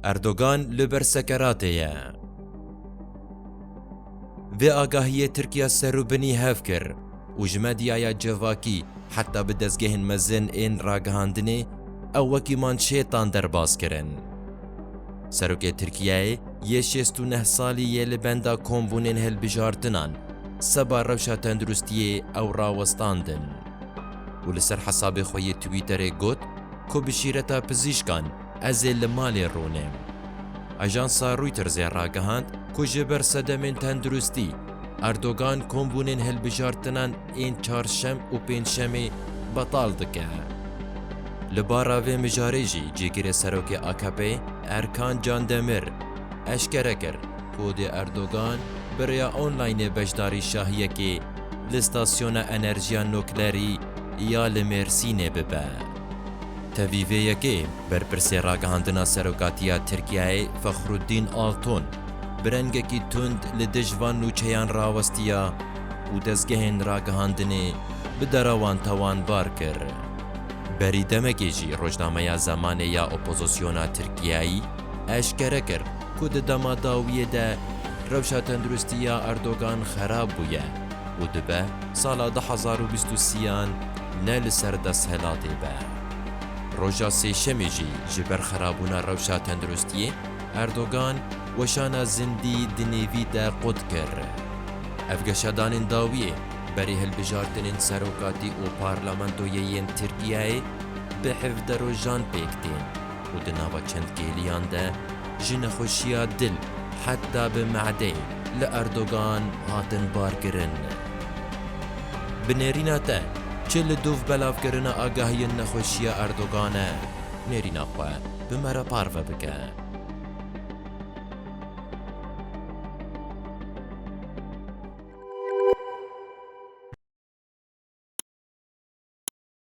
Erdogan li ber sekeratê ye. Vê agahiyê Tirkiya serûbinî hev kir û ji medyaya civakî heta bi dezgehên mezin ên ragihandinê ew wekî manşêtan derbas kirin. Serokê Tirkiyeyê yê şêst û neh salî yê li benda kombûnên hilbijartinan seba rewşa tenduristiyê ew rawestandin û li ser hesabê xwe yê Twitterê got ku bi şîreta pizîşkan Ez ê li malê rûnim. Ajansa Reutersê ragihand ku ji ber sedemên tenduristî, Erdogan kombûnên hilbijartinan ên çarşem û pêncşemê betal dike. Li bara vê mijarê jî cîgirê serokê AKP'ê Erkan Candemir eşkere kir ku dê Erdogan bi rêya onlaynê beşdarî şahiyekê li stasyona enerjiya nuklerî ya li Mêrsînê bibe. Tevî vê yekê, berpirsê ragihandina serokatiya Tirkiyeyê Fexrûddîn Alton bi rengekî tund li dij van nûçeyan rawestiya û dezgehên ragihandinê bi dera wan tawanbar kir. Berî demekê jî rojnameya Zamanê ya Opozisyona Tirkiyeyî eşkere kir ku di dema dawiyê de rewşa tenduristî ya Erdogan xerab bûye. û dibe sala du hezar û bîst û sî-yan ne li ser desthilatê be. Roja Sêşemê jî ji ber xerabûna rewşa tenduristiyê Erdogan weşana zindî di nêvî de qut kir. Ev geşadanên dawiyê berî hilbijartinên serokatî û parlamentoyê yên Tirkiyeyê bi hevde rojan pêk tên. û di nava çend kêliyan de ji nexweşiya dil heta bi me'deyê li Erdogan hatin barkirin. Bi nêrîna te çi li dûv belavkirina agahiyên nexweşiya Erdogan e nêrîna xwe bi me re parve bike.